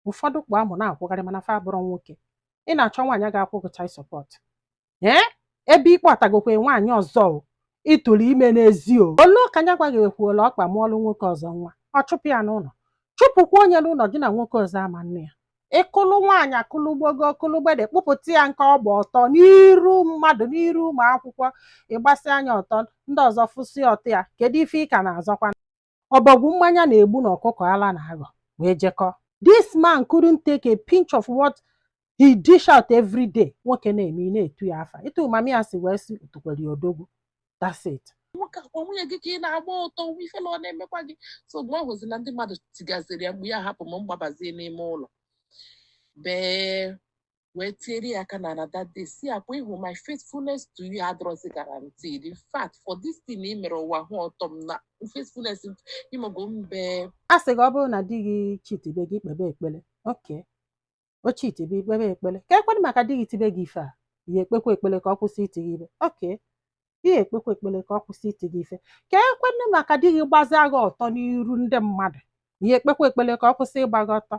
ụfọdụ kpụ amụ na-akwụgharị mana fa abụrọ nwoke ị na-achọ nwaanyị ga-akwụ gị child support ee ebe ị kpọtagokwe nwaanyị ọzọ ị tụrụ ime n'ezi o lu ka nya kwa ghekwuola ọkpa mụọlụ nwoke ọzọ nwa ọ chụpụ ya n'ụlọ chụpụkwa onye n'ụlọ gị na nwoke ọzọ ama nne ya ị kụlụ nwaanyị akụlụ gbogo ọkụlụ gbede kpụpụta ya nke ọ gba ọtọ n'iru mmadụ n'iru ụmụ akwụkwọ ị gbasịa nya ọtọ ndị ọzọ fụsị ọtọ ya kedu ife ị ka na-azọkwa ọbọgwụ mmanya na-egbu na ọkụkọ ala na-aghọ wee jekọ this man couldn't take a pinch of what he dish out every day nwoke na-eme a na-etu ya afa etu mama ya si wee si otukwere ya odogwu that's it nwoke ọkwa nwunye gị ka ị na-agba ọtọ nwa ifele ọ na-emekwa gị so mgbe ọ hụzi na ndị mmadụ tigaziri ya mgbe ya hapụ m m gbabazie n'ime ụlọ bee wee tiere ya aka n'ala that day sị ya ọkwa ị hụ my faithfulness to you adịrọzi guaranteed in fact for this thing ị mere ụwa hụ ọtọ m na faithfulness ịmago mbe a sị gị ọ bụrụ na di gị chitibe gị ị kpebe ekpele okay o chitibe ị kpebe ekpele ka e kwenụ maka di gị tibe gị ife a ị ya ekpekwa ekpele ka ọ kwụsị iti gị ife okay ị ya ekpekwa ekpele ka ọ kwụsị iti gị ife ka e kwenụ maka di gị gbazia gị ọtọ n'iru ndị mmadụ ị ya ekpekwa ekpele ka ọ kwụsị ịgba gị ọtọ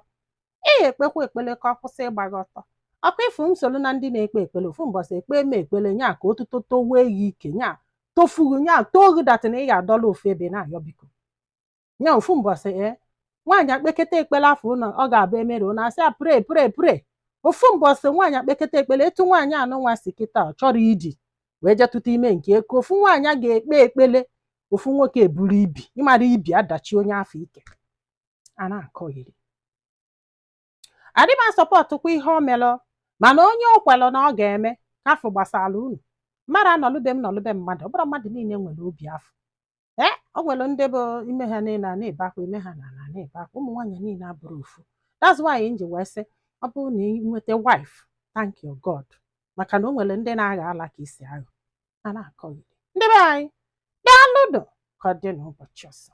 ị ya ekpekwa ekpele ka ọ kwụsị ịgba gị ọtọ ọkwa ị fụ m soro na ndị na-ekpe ekpele ofu mbọsị ekpe eme ekpele nya ka otuto towe ya ike nya tofughị nya too gị datị na ị ya adọla ofu ebe na-ayọ biko nya ofu mbọsị ee nwaanyị akpeketa ekpele afọ ụlọ ọ ga-abụ emere ụlọ a sị ya pray pray pray ofu mbọsị nwaanyị akpeketa ekpele etu nwaanyị anụnwa si kịta ọ chọrọ iji wee je tụta ime nke eke ofu nwaanyị a ga-ekpe ekpele ofu nwoke eburu ibi ị mara ibi adachi onye afọ ike a na-akọghịrị adị m asọpọtụkwa ihe o melụ mana onye o kwelụ na ọ ga-eme ka afọ gbasara unu mmadụ anọlụbe m nọlụbe mmadụ ọ bụrọ mmadụ niile nwere obi afọ ee o nwere ndị bụ ime ha niile a na-ebe akwa ime ha na ala na-ebe akwa ụmụ nwaanyị niile abụrọ ofu that's why m ji wee sị ọ bụrụ na ị nweta wife thank your God maka na o nwere ndị na-agha ala ka isi agha a na-akọghịrị ndị be anyị daalụnụ ka ọ dị n'ụbọchị ọzọ